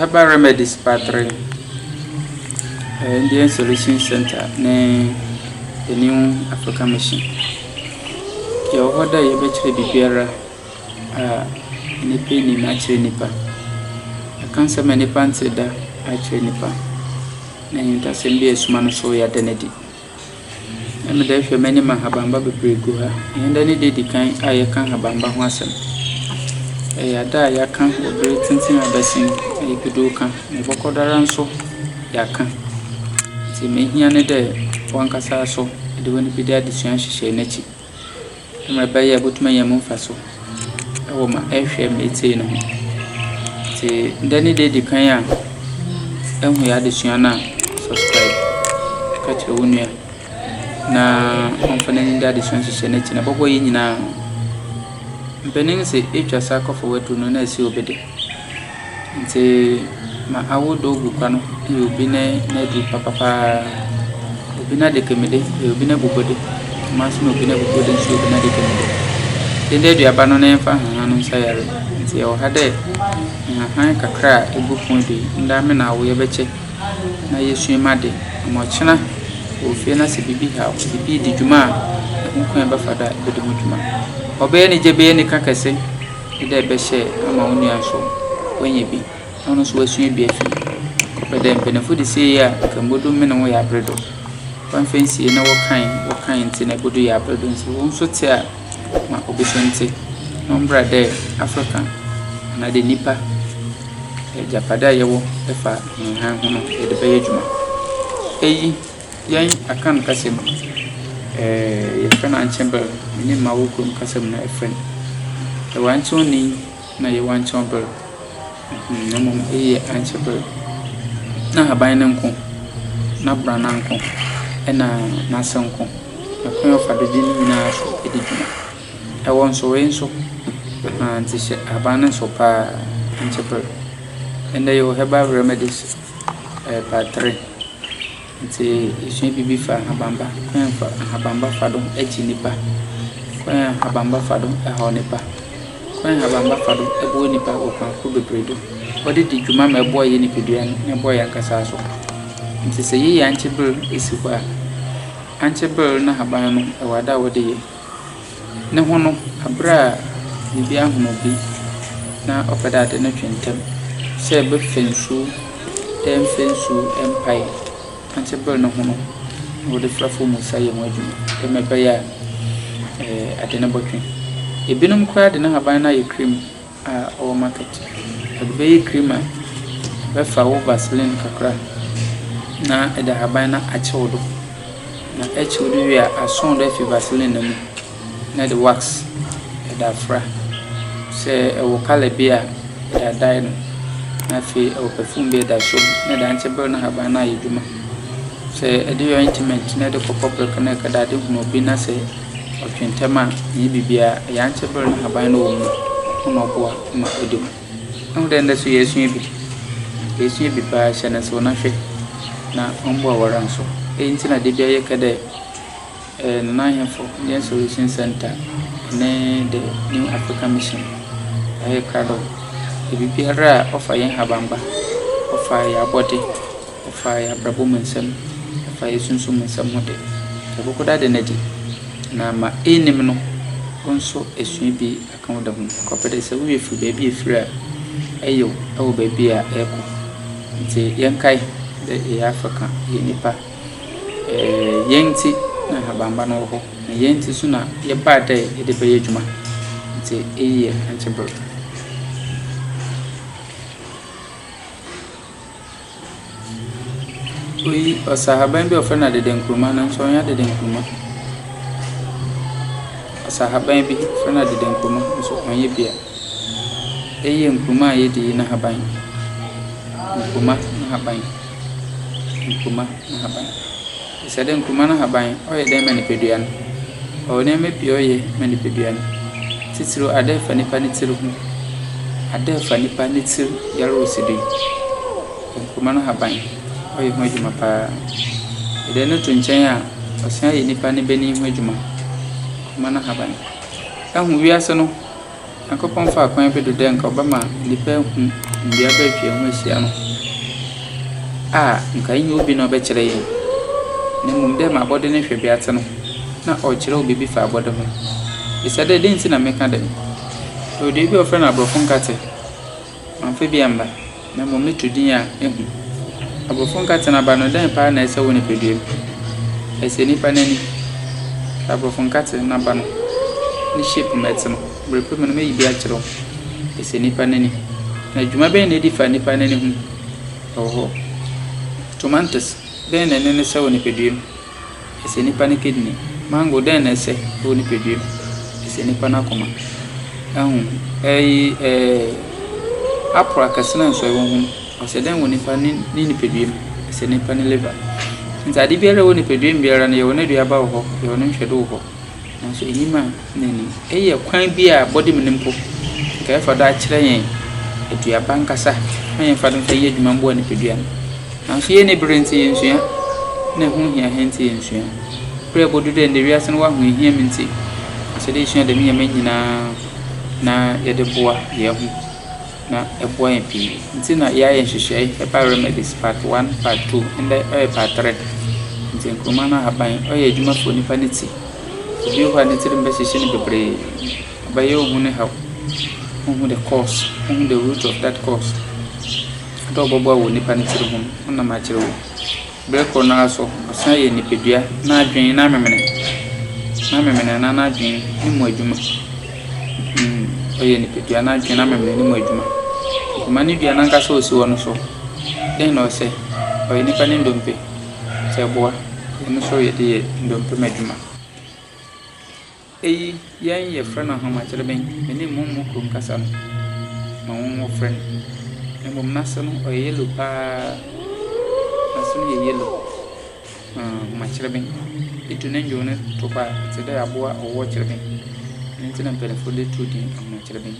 Herbal remedies battery, Indian solution center ne the new African mission. Yɛwɔ hɔ dɛ yɛbɛkyerɛ biribiara a nnipa nnim akyerɛ nnipa. Yɛka nsɛm a nnipa nte da akyerɛ nnipa, na ahintasɛm bi a ɛresuma no nso yɛada no adi. Ɛna mede ahwɛ m'anim a nhabamma bebree gu ha. Ɛnɛ ne da a ɛdi kan a yɛka nhabamma ho asɛm. Ɛyɛ ada a yɛaka wɔ bere tenten a abɛsen a yɛpɛ bi reka. Yɛbɛkɔ do ara nso yɛaka. Nea ɛhia ne dɛ w'ankasa nso de w'anifide adesua hyehyɛ n'akyi. Sɛnea ɛbɛyɛ a obetumi anya mu mfaso wɔ ma ɛhwɛ ma etie no ho. Ntsi dɛ ne da edzi kan a ehu yɛ adesua no a subscribe. Ka kyerɛ wo nua na ɔmfa n'enyi nda adesua nhyehyɛɛ no ekyir. Na ebɔbɔ iyi nyina ho. Mpanyin dze etwa sakɔfa w'edur no na esi obi de. Ntsi ma awo do gu kwa no yɛ obi n'adu papapaa, obi n'adekamude, obi n'ebobode, dɛmara so na obi n'ebobode na obi n'adekamude. Ndɛ eduaba no yɛmfa nhahan no nsa yare, ntsi yɛwɔ ha dɛ nhahan kakra a egu fon do yi ndɛ ame na awo yɛbɛkyɛ na yesua mu ade ama ɔkyena wɔ fie na sɛ biribi haw, biribi dzi dwuma a, hom kwan a yɛbɛfa do a yɛbɛda mu dwuma. Ɔbɛyɛ ne gya, ɔbɛyɛ ne ka kɛse. Wopɛ dɛ ebɛhyɛ ama wo nua so oenya bi na ɔno so oesua bi efi mu. Ɔpɛ dɛ mpanyimfo dze sie yɛ a, nka mbodu me na wo yɛ aber do. Wɔammfa ennsie na wɔkae wɔkae ntsi na ebodu yɛ aber do ntsi wo so tse a ma obi so ntse. Ɔmbra dɛ Africa anaadɛ nyimpa egyapadze a yɛwɔ fa hɛnho no yɛdze bɛyɛ edwuma. Iyi. Yɛn Akan kasa mu no, yɛfrɛ no Ankyɛber, me ne m'awo kurom kasa mu no yɛfrɛ no Yɛwankyɔnni na Yɛwankyɔnber, na mmom eyi yɛ Ankyɛber. N'ahaban no nko, n'abrana nko, ɛna n'ase nko, na kwan a ɔfa do gye ne nyinaa so di dwuma. Ɛwɔ nsowee nso, nti hyɛ ahaban no nsow paa, Ankyɛber. Ɛnna yɛwɔ herbal remedies. Ɛɛbatere. Ntsi yesua biribi fa ahabamba, kwan a fa ahabamba fa do gye nyimpa, kwan a ahabamba fa do haw nyimpa, kwan a ahabamba fa do boa nyimpa wɔ kwan ahorow beberee do. Wɔdze dzi dwuma ma ɛboa hɛn nyimpadua no na ɛboa hɛn ankasa so. Ntsi sɛ yɛyɛ ankye ber si hɔ a, ankye ber no n'ahaban no, ɔwɔ ada a wɔdze yɛ. No ho no, aber a biribi ahon obi na ɔpɛ dɛ adze no twe ntsɛm, sɛ ebɛfa nsu, dɛ mfa nsu mpae antse ber no ho no, wɔdze fra famu sa yɛ ho edwuma dɛ mbrɛ ɔbɛyɛ a adze no bɔtwe. Binom koraa dze n'ahaban no ayɛ cream. a ɔwɔ market. Ɔde bɛyɛ cream a, bɛfa wo vaseline kakra na ɛde ahaban no akyɛ wo do. Na ɛkye wo do wie a, asɔn wo do afi vaseline no mu na ɛde wax ɛde afra. Sɛ ɛwɔ colour bi a, ɛde adye no. Na afei ɛwɔ perfume bi a ɛde asɔ mu na ɛde ankyɛ ber no ahaban no ayɛ edwuma. Sɛ ɛde yɛ ointment na ɛde kɔ kɔprek na ɛkɛda ade hu obi na sɛ. Ɔtwe ntɛm a, ɛnyɛ biribiara, ɛyɛ ankye ber na haban no wɔ mu no na ɔboa ma ɔda mu. Ihu dɛ ndɛ so yesua bi, yesua bi paa, hyɛ no nsew na hwɛ na ɔmboa wo ara nso. Iyi ntsi na da biara yɛka dɛ Nana Ahenfo Indian Solution Centre ne The New African Mission ayɛ krado dɛ biribiara a ɔfa hɛn habamba, ɔfa hɛn abɔdze. Ɛfa yɛn abrabɔ mu nsɛm, ɛfa yɛn sunsum mu nsɛm ho de, yɛbɛkɔ do ada no adi, na ma eyinom no wo nso esua bi aka wo da ho. Kɔpɛ dɛ sɛ wo werɛ fir beebi a efir a, eyew wɔ beebi a erokɔ. Ntsi yɛnkae dɛ yɛyɛ afa kã, yɛyɛ nyimpa. Hɛn ntsi na Habamba no wɔ hɔ, na hɛn ntsi so na yɛbaa dɛ yɛdze bɛyɛ edwuma. Ntsi iyi yɛ ankyɛber. Oyi, ɔsahaban bi a wɔfrɛ no adede nkruma nanso ɔnyɛ adede nkruma. Asahaban bi, wɔfrɛ no adede nkruma nanso ɔnyɛ bi. Eyi yɛ nkruma a yedi yi n'ahaban. Nkruma n'ahaban. Nkruma n'ahaban. Ɛsɛ dɛ nkruma no haban ɔyɛ dɛn ma nipadua no? Ɔwɔ nneɛma pii a ɔyɛ ma nipadua no, tsitsir ada a ɛfa nipa ne tsir ho. Ada a ɛfa nipa ne tsir yar wɔ si do yi, nkruma no haban ɔyɛ ho edwuma paa. Edɛ no to nkyɛn a, ɔsan yɛ nipa ne bani ho edwuma, nkruma no haban. Ehu wiase no Nyankopɔn faa kwan bi do dɛ nka ɔbɛma nyimpa ehu mbrɛ bɛtwa ho ehyia no a nka nnyɛ obi na ɔbɛkyerɛ hɛn na mbom dɛ ma abɔde no hwɛbea tse no, nna ɔrekyerɛw biribi fa abɔde ho. Bisa dɛ, 'Dɛn ntsi na meka dɛm? Ɔyɛ dua bi a wɔfrɛ no aborɔfo nkã tse. Mamfa bi amma, na mmom me to din a ehu. Aborɔfo nkatena aba no, dɛn paa na ɛsɛ wɔ nipaduam? Ɛsɛ nnipa no ani. Hwɛ aborɔfo nkate no aba no ne shape ma ɛte no. Bere pa mu no meyi bi akyerɛ wo. Ɛsɛ nnipa no ani. Na dwuma bɛn na edi fa nnipa no ani ho? Ɛwɔ hɔ. Tomantos bɛn na ɛne no sɛ wɔ nipaduam? Ɛsɛ nipa ne kidney. Mango dɛn na ɛsɛ wɔ nipadua mu? Ɛsɛ nipa no akoma. Ɛho ɛyi ɛɛ apple akɛse na nsɔe wɔ ho no ɔsɛ dɛn wɔ nipa ne ne nipadua mu? Ɛsɛ nipa ne liver. Nti ade biara wɔ nipadua mu biara no yɛwɔ n'aduaba wɔ hɔ, yɛwɔ ne nhwɛdo wɔ hɔ. Nanso enyim a N'ani. Eyi yɛ kwan bi a bɔde mu no mpo nka yɛfa do akyerɛ yɛn aduaba ankasa ma yɛmfa no nka nyɛ adwuma mboa nipadua no. Naaso yɛnni ber ntsi yennsua, nna ho hia hɛn ntsi yennsua. Ber a obodu dɛ ndɛ wiase no w'ahoehia mu ntsi, ɔsɛ dɛ yesua dɛm ndzɛmba yi nyina na yɛde boa hɛnho na ɛboa hɛn pii. Ntsi na yɛayɛ nhyehyɛɛ herbal remedies part one, part two, ndɛ ɔyɛ part three. Ntsi nkruma no ahaban ɔyɛ edwuma fa onipa ne tsi. Obi wɔ hɔ a ne tirim bɛhyehye no bebree, ɔbɛyɛ wo ho no haw, wonhu the cause, wonhu the root of that cause. Dɛ ɔbɔboa wɔ nipa ne tiri ho no, wonam akyerɛ wo. Berɛ korɔ no ara so, ɔsan yɛ nipadua n'adwene n'amemene, n'amemene anaa n'adwene ne mu adwuma. Mm, ɔyɛ nipadua n'adwene n'amemene ne mu adwuma. Nkuma ne dua n'ankasa ɔsi hɔ no so, dɛn na ɔsɛ? Ɔyɛ nipa ne ndompe. Sɛ ɛboa, ɛno nso yɛde yɛ dɔmpem adwuma. Eyi yɛn yɛfrɛ no ahomakyerɛbɛn, ɛne mmommo kurom kasa no na wɔfrɛ no. Na mmom n'ase no ɔyɛ yellow pa ara, n'ase no yɛ yellow, ahomakyerɛbɛn. Wotu ne nnwow no to hɔ a, ɛte dɛ aboa ɔwɔ kyerɛbɛn. Ɛno nti na mpanimfoɔ de too din ahomakyerɛbɛn.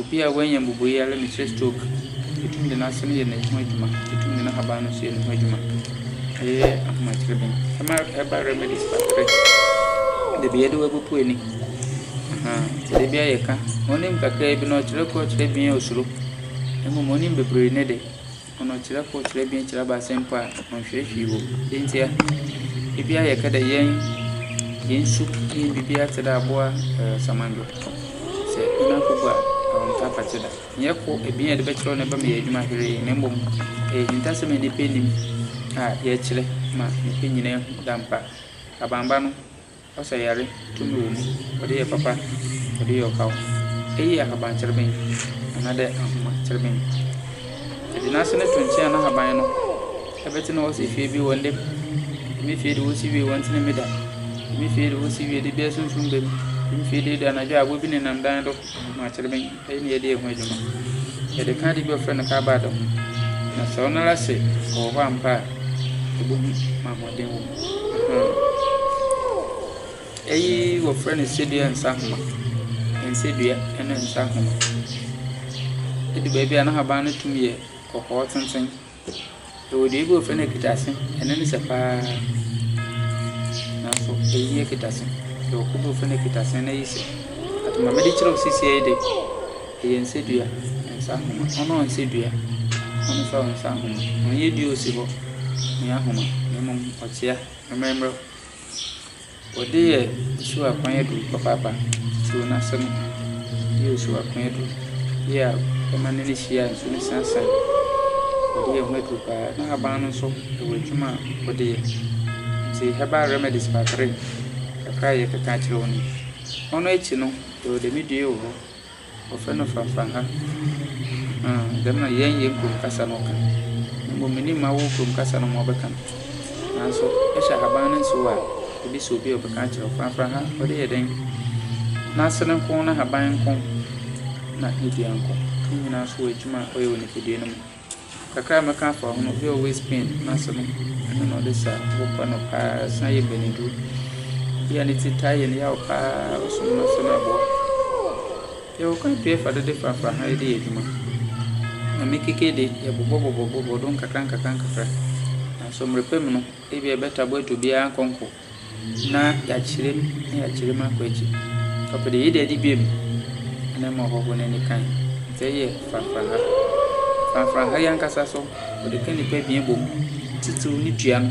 Obi a wanya mmubuuyare ne sɛ stroke, yɛtumi de n'ase no yɛ ne ho adwuma, yɛtumi de n'ahaban no nso yɛ ne ho adwuma. Ɛyɛ ahomakyerɛbɛn. Ɛma ɛba remedies battery, de bia yɛde bɛpopo ani, ahaa, de bia yɛka. Onim kakraa bi na ɔkyerɛ koro, ɔkyerɛ abien a osuro. Mmom onim bebree ne de. Ɔnɔkyerɛ kor, kyerɛ ebien, kyerɛ abaasa mpo a, ɔnnhwɛ hwee wɔ mu. Dɛn ntsi a? Bi a yɛka dɛ yɛn hɛn su nye biribiara tse dɛ abowa samandwe. Sɛ wo namfo bu a, ɔnntɔ apakye da. Nnyɛ kor, ebien a yɛdze bɛkyerɛw na ebɛma yɛayɛ edwuma hweree na mbom ɔyɛ ehintasɛm a nyimpa enyim a yɛkyerɛ ma nyimpa nyina hu dɛ ampa abamba no Ɔsa yare tumi wɔ mu. Ɔde yɛ papa, ɔde yɛ ɔhaw. Eyi yɛ ahabantserɛbɛn anaadɛ ahomatserɛbɛn. Yɛdze n'ase no to nkyɛn a n'ahaban no bɛtsena hɔ sɛ fie bi wɔ ndɛ mu. Dɛm fie yi de wosi wie wɔnntsen mu da. Dɛm fie yi de wosi wie de bi asuntsum ba mu. Dɛm fie yi de anadwo a abowa bi nenam dan do, ahomatserɛbɛn. Ɛyi na yɛde yɛ ho adwuma. Yɛde ka ade bi a wɔfrɛ no carbad ho, na sɛ ɔno ara sɛ ɔwɔ hɔ ampa a, ɛbɛhu ma ahoɔden wɔ mu. Aha. Ɛyi wɔfrɛ no sedua nsahoma, nsedua ne nsahoma. Ɛdu baabi a n'ahaban no tumi yɛ kɔkɔɔ tenten Yɛwɔ dua bi a wɔfrɛ no akitase. Ɛno ne sɛ paa. Nanso ɛyi akitase. Yɛwɔ kuo bi a wɔfrɛ no akitase ɛno ayi sɛ. But deɛ mede kyerɛ wo seesei yi deɛ, ɛyɛ nsa dua, nsa ahoma. Ɔno ɔnsɛ dua, ɔno nso ɔnsɛ ahoma. Ɔnyɛ dua a ɔsi hɔ, ɔnyɛ ahoma, na mmom ɔkyea, mmerɛmmerɛ. Wɔde yɛ osu akwan aduru papaapa too no ase no yɛ osu akwan aduru bi a ɛma no ani hye a nsu no san san. Wɔde yɛ ho aduru pa ara. N'ahaban no nso wɔ adwuma a wɔde yɛ. Nti herbal remedies kakra yi kakra a yɛkeka akyerɛ wo no yi. Ɔno akyi no, yɛwɔ dɛm dua yi wɔ hɔ. Wɔfrɛ no Fafaha. Ahaa, dɛm na yɛn yɛn kurom kasa no ka. Mbom minnyim m'awow kurom kasa no ma ɔbɛka no. Naaso, ehwɛ ahaban ne nsew a, ibesi obi a ɔbɛka akyerɛ wo. Fafaha, ɔde yɛ dɛn? N'ase no nko, n'ahaban nko, na ne dua nko. Ne nyina so wɔ edwuma a ɔyɛ wɔ nyimpadua no mu. Kakra a mɛka afa ho no, obi a ɔwɔ waist pain n'ase no, ɛno na ɔde sa bo pa no paa, ɛsan yɛ mbaniduro. Obi a ne ti taa yɛ no yaw paa, ɔsom no ase no ɛboa. Yɛwɔ kwan pii a yɛfa do de frafraha yi de yɛ adwuma. Na me keke de, yɛbobɔbobɔbobɔ do nkakrankakra, nanso mber pa mu no, ebi a ɛbɛtabɔ etu biara nkɔnkɔ. na yɛakyerɛ mu na yɛakyerɛ mu akɔ ekyir. Ɔpɛ dɛ yɛda adi bio mu na ama ɔhɔho no ne kan. Dza ɔyɛ franfranha. Franfranha yi ankasa so, wɔdze ka nyimpa ebien bɔ mu, tsitsir ne dua no,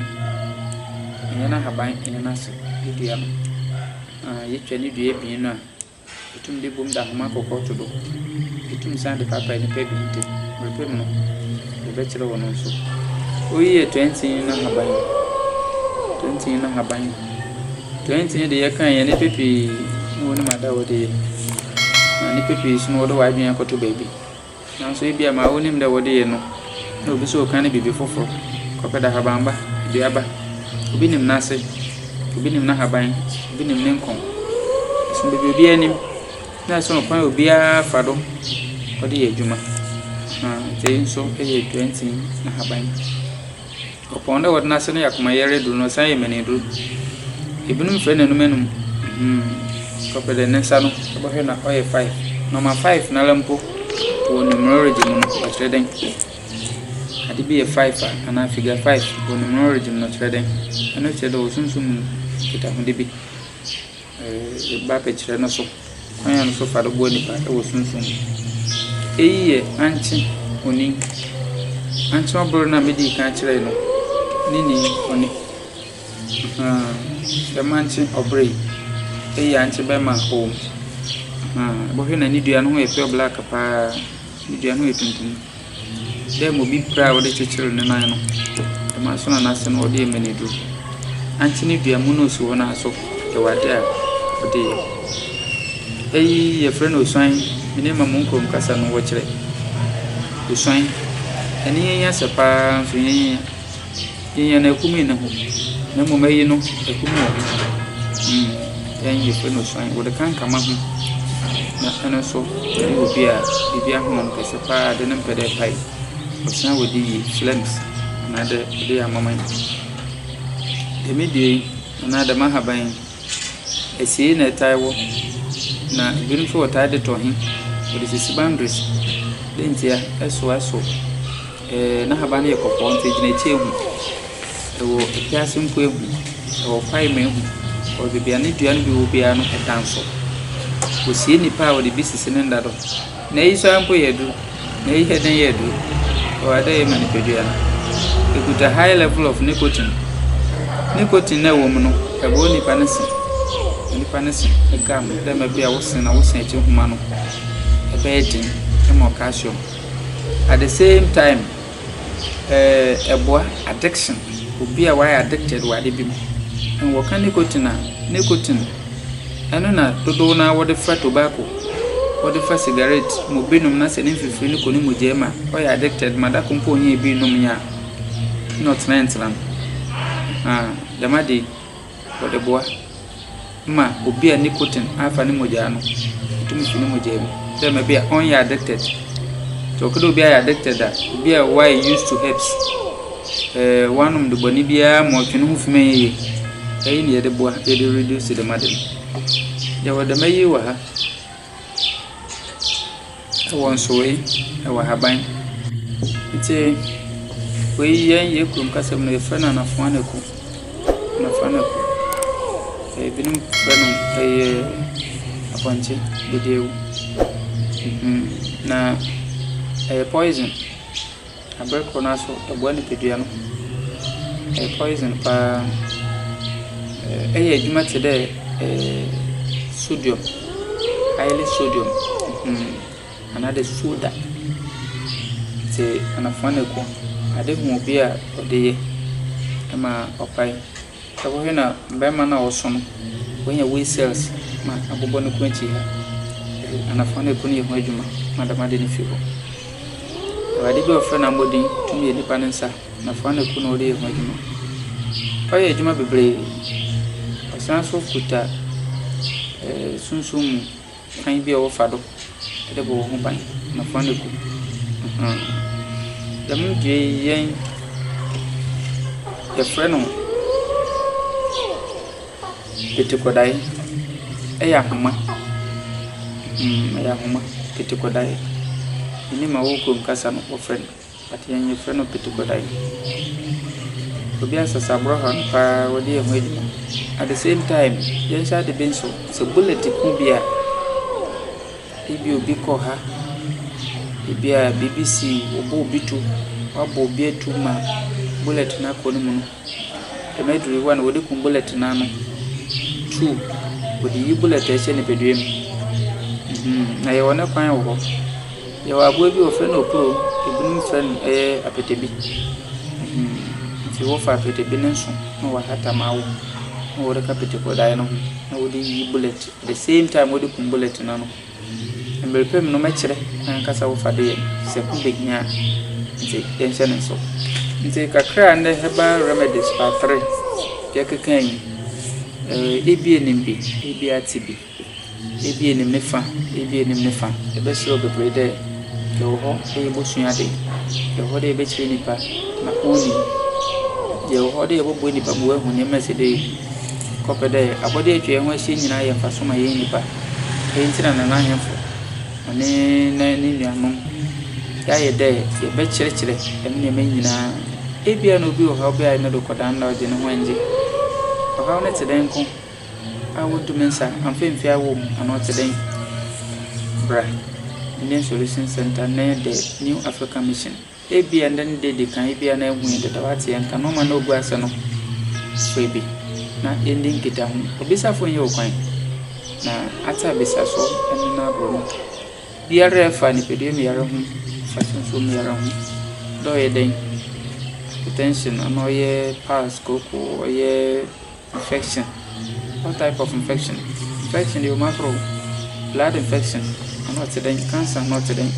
annyɛ n'ahaban, annyɛ n'ase, ne dua no. Aah yetwa ne dua ebien no a, Itum de bom da nhoma kɔkɔɔ to do. Itum san de paapae nnipa bi ntamu. Merepɛ mu no, mebɛkyerɛ wo no nso. Oyi yɛ toantsin no haban. Toantsin no haban. Toantsin de yɛkan yɛn nnipa pii na wɔnim ada a wɔde yɛ. Na nnipa pii nso no wɔde wɔn adwene akɔto baabi. Nanso ebia ma wonim dɛ wɔde yɛ no, na obi so ka ne biribi foforo. Kɔpɛ da habamba, duaba. Obi nim n'ase, obi nim n'ahaban, obi nim ne nkɔn. Ɛsono baabi obiara nim, na ɛsono kwan a obiara fa do de yɛ adwuma. Ɛha wei nso yɛ plantain ahaban. Ɔpɔn dɛ wɔda no ase no yɛ akomayɛyɛr edur na ɔsan yɛ mɛn edur. Binom frɛ no enuma enum. Ɔpɛ dɛ ne nsa no ebɔhwɛ na ɔyɛ five. Nɔma five noara mpo wɔ numerology mu no ɔkyerɛ dɛn? Adze bi yɛ five a anaa figure five wɔ numerology mu no ɔkyerɛ dɛn? Ɔno kyerɛ dɛ ɔwɔ sunsum mu nkitahodzi bi. Bɛbɛkyerɛ no so kwan a wɔfa so boa nnipa wɔ sunsum mu. Eyi yɛ ankye onin. Ankye ɔbor no a medii kan kyerɛe no ne nin ɔne. Ahaa, dɛm ankye ɔbor yi, eyi yɛ ankye bɛrima a ɔwɔ mu. Ahaa, ebɔhwɛ na ne dua no ho yɛ pure black paa. Ne dua no ho yɛ tuntum. Dɛm obi pira a wɔdze kyekyer ne nan no, dɛmara so na n'ase no wɔdze rema no edur. Ankye no dua mu na osi hɔ no ara so, yɛwɔ adze a wɔdze yɛ. Iyi yɛfrɛ no osuan, me dɛ ma mo nkurom kasa no wɔkyerɛ, osuan. Hɛn nyɛnyinyɛ sɛ paa nso nyɛnyinyɛ. Yenya no akumi ne ho, na mmom ayi no akumi wɔ ho. Mm, ɛn yɛfrɛ no osuan. Wɔde ka nkama ho, na ɛno nso ɛne obi a biribi ahono no kɛse paa de no mpɛ dɛ ɛpae. Ɔsan wɔde yi phlegms anaadɛ ɔde yɛ amaman. Dɛm dua yi anaa dɛm ahaban yi, asiei na ɛtaa wɔ, na ebinom nso wɔtaa de tɔ he, wɔde sisi boundaries. Dɛ ntia? Ɛso ɛso. Ɛɛ, n'ahaban no yɛ kɔkɔɔ nti egyina akyire ehu. Ɛwɔ afiase mpo ehu. Ɛwɔ kwaeɛ mu ehu. Wɔ baabi a ne dua no bi wɔ biara no ɛda nso. Wɔsie nnipa a wɔde bi sisi ne nda do. Na eyi nso ara mpo yɛ aduro. Na eyi yɛ dɛn yɛ aduro? Ɛwɔ ade a ɛyɛ ma nipadua no. Ɛkuta high level of nicotine. Nicotine no a ɛwɔ mu no ɛbɔ nipa no se. Ɛma nipa no se gam dɛ mmerɛ bi a wo se na wo se akyi nhoma no ɛbɛyɛ den ɛma wo calcium. At the same time, ɛɛ ɛboa addiction, obi a wayɛ addicted wɔ ade bi mu. Ɛɛ wɔka nicotine a, nicotine, ɛno na dodow no ara wɔde fa tobacco, wɔde fa cigarette ma obi nom na sɛ ne mfifiri no kɔ ne mogya mu a, ɔyɛ addicted ma da koro mpo ɔnyɛɛ bi nnom yɛ a, na ɔtenatena mu. Ahaa, dɛm ade yi. Wɔde boa ma obi a nicotine afa ne mogyaa no, ɛtumi fi ne mogyaa mu. Dɛ ma bi a ɔnyɛ addicted. Nti ɔkɛdɛ obi ayɛ addicted a, obi a wayɛ used to herbs. Ɛɛ wanom de bɔne biara ma ɔtwe ne ho fi ma yɛyɛ. Ɛyi na yɛde boa, yɛde reduce dɛm ade no. Yɛwɔ dɛm ayi wɔ ha. Ɛwɔ nsoeɛ, ɛwɔ ahaban. Nti wei yɛn yɛn kurom kasa mu no yɛfrɛ no anafɔanako, anafɔanako. Ebinom frɛ no ɛyɛ apɔnkye dedeɛ. Na ɛyɛ poison. Aber kor no ara so ɔboa nyimpadua no. Ɔyɛ poison paa. Ɔyɛ edwuma tse dɛ sodium, highly sodium anaadɛ soda. Ntsi anafua na ekuw. Ade hu obi a ɔde yɛ ma ɔpae. Ɛhɔhe na barima no a ɔsõ no benya wei cells ma abobɔ ne kɔn akyi ha? Ɛhe? Anafã na ɛkunu yɛ ho adwuma ma dɛm ade no fi hɔ. Awurade bi a wɔfrɛ no Amɔden tumi yɛ nipa no nsa, anafã na ɛkunu na ɔde yɛ ho adwuma. Ɔyɛ adwuma bebree. Ɔsan nso kuta ɛɛ sunsum mu. Kwan bi a wɔfa do dze bɔ hɔnho ban na hɔn eku. Dɛm dua yi yɛn yɛfrɛ no etukɔdae. Ɔyɛ ahoma. Ɔyɛ ahoma, etukɔdae. Emi ma wɔkɔ mu kasa no wɔfrɛ no. But yɛn yɛfrɛ no pitukodae. Obi asesa borɔfo no paa ɔde yɛ ho adwuma. At the same time yɛnhyɛ ade bi nso, sɛ bullet ku obi a, ebi a obi kɔ ha, ebi a biribi si wɔbɔ obi tuo, wɔabɔ obi atu ma bullet no akɔ ne mu no, dɛm aduru yi one wɔde ku bullet no ano. Two, wɔde yi bullet a ɛhyɛ nipadua mu. Mmhn, na yɛwɔ ne kwan wɔ hɔ. Yɛwɔ aboa bi wɔfrɛ no opuro, binom frɛ no apatabi, nti wofa apatabi no nso na wahata ma awo na wode ka apatabi daeɛ ne ho na wode yi bullet at the same time wode kum bullet no ano. Mmerɛ pɛ mu no mɛkyerɛ kwan ankasa a wofa de yɛ no sɛ ho bɛhia a, nti yɛnhyɛ no nso. Nti kakra a ndɛ herbal remedies part three yɛkeka yi, ebi yɛ nim bi, ebi ate bi. Ebi enim ne fa, ebi enim ne fa. Ebɛserɛ wo bebree dɛ yɛwɔ hɔ dɛ yebosua adze. Yɛwɔ hɔ dɛ yɛbɛkyerɛ nyimpa ma onyim. Yɛwɔ hɔ dɛ yɛbɔboa nyimpa ma oehu ndzɛmba a ɔsɛ dɛ ohu. Kɔpɛ dɛ abɔdze a etwa hɛnho ehyia nyina yɛ mfaso ma hɛn nyimpa. Dɛm ntsi na Nana Ahenfo wɔnye na ne nuanom yɛayɛ dɛ yɛbɛkyerɛkyerɛ dɛm ndzɛmba yi nyina. Ebia na obi wɔ hɔ a ɔbɛyɛ adze no do kɔ dan no na ɔdze noho nngye. Ɔhaw no tse dɛn nko. A wotu me nsa a, amfa amfie awɔ mu anaa ɔte dɛn? Bra, Indian Solution Center ne The New African Mission. Ebia ɛnnɛ ne da edi kan, ebia na ahu yɛn dada, wate yɛn nka, na ɔma na ogu ase no, frɛ bi na yɛndi nkitaho. Obisafo nyɛ wo kwan, na ate abisa so ne no aboro no. Biara a ɛfa nipadua mu yare ho, ɛfa sunsum mu yare ho, dɛ ɔyɛ dɛn, hypertension anaa ɔyɛ pulse kooko, ɔyɛ Infection, what type of infection? Infection deɛ ɔmo ahorow, blood infection ɛno ɔte dɛn, cancer ɛno ɔte dɛn?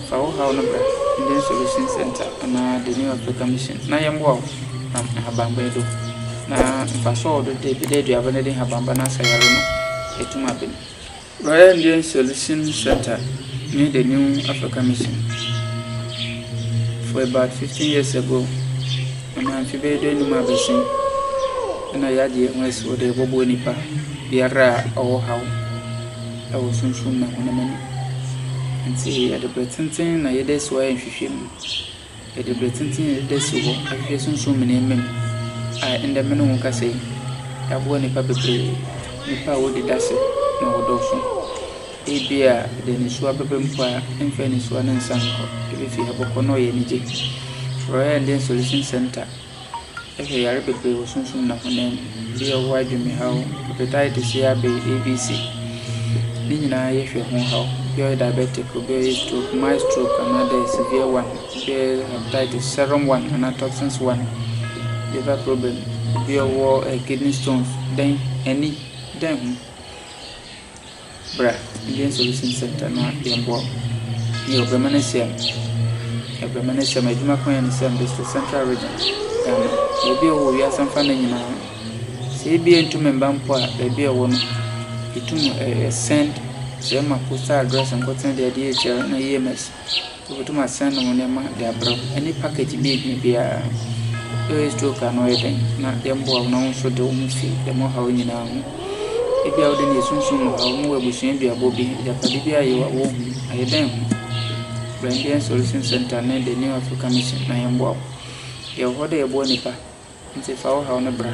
Fa wo haw no bra Indian Solution Center anaa The New Africa Mission na yɛmmoa wo nam nhabamba yi do na mfaso a ɔwɔ do dɛ bi dɛ aduaba no de nhabamba no asa yare no etum aben. Royal Indian Solution Center ne The New Africa Mission. For about 15 years ago, ɛnam mfe bɛyɛ dɛ num abɛsen, ɛna yɛagye yɛn ho asi hɔ dɛ yɛbɛboa nipa biara a ɔwɔ haw ɛwɔ sunsum na honam ani. Nti yɛde bere tenten na yɛde asi hɔ ayɛ nhwehwɛmu. Yɛde bere tenten asi hɔ ahwehwɛ sunsum mu nneɛma mu a ɛnnɛ me ne wo rekasa yi, yɛaboa nnipa bebree, nnipa a wodi dase na wɔdɔɔso. Ebia yɛde nnesoa bɛba mu mpo a, yɛmfa nnesoa no nsan nkɔ, ebefi ha bɛkɔ na ɔyɛ anigye. Frɛ yɛn Solution Center Ɛhwɛ yare bebree wɔ sunsum na honam mu. Ebi yɛ ɔwɔ adwenemhaw, hepatitis A, B, A, B, C. Ne nyinaa yɛhwɛ ho haw. Ebi yɛ diabetic, ebi yɛ stroke, mild stroke anaadɛ severe one, ebi yɛ hepatitis, serum one anaa toxins one, liver problem, ebi yɛ ɔwɔ kidney stones, dɛn, ani, dɛn ho. Bra Indian Solution Center na yɛmboa wo. Nyew, bɛma no esia mu. Bɛma no esia mu. Edwuma ko yɛ ne Siam District, Central Region, Ghana. Beebi a ɔwɔ wɔ wiase afa no nyina no, sɛ bi a enntum mmba mpo a, beebi a ɔwɔ no, itum send dze ma postal address nkotsee dze ɔdze eekyerɛ no EMS. Wobotum asɛn wo ndzɛmba dze abrɛ wo ne package bi a ebia biara eyi stroke a na ɔyɛ dɛn na yɛmboa wo na wo so de woho fi dɛm ɔhaw yi nyina ho. Ebia wo dɛ no yɛ sunsum mu haw, mowɔ ebusua duabɔ bi, agyapade bi a yɛwɔ a wonnhu, ayɛ dɛn ho? Bra Indian Solution Centre ne The New African Mission na yɛmboa wo. Yɛwɔ hɔ dɛ yɛboa nyimpa. Nti fa wo haw no bra.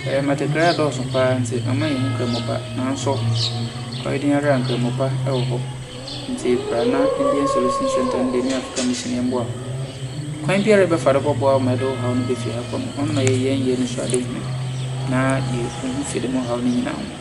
Ɛɛ, Mmatekrae adɔɔso paa nti ama yɛahu Nkramopa pa. Nanso, ɔyɛ den ara a, Nkramopa pa wɔ hɔ. Nti bra na Indian Solution Center ne The New African Mission yɛmmoa wo. Kwan biara a yɛbɛfa do bɛboa wo ma yɛde wo haw no befi ha kɔ no, ɔno na yɛyɛ yɛn anisoadehu na yɛahu fi de mo haw no nyinaa ho.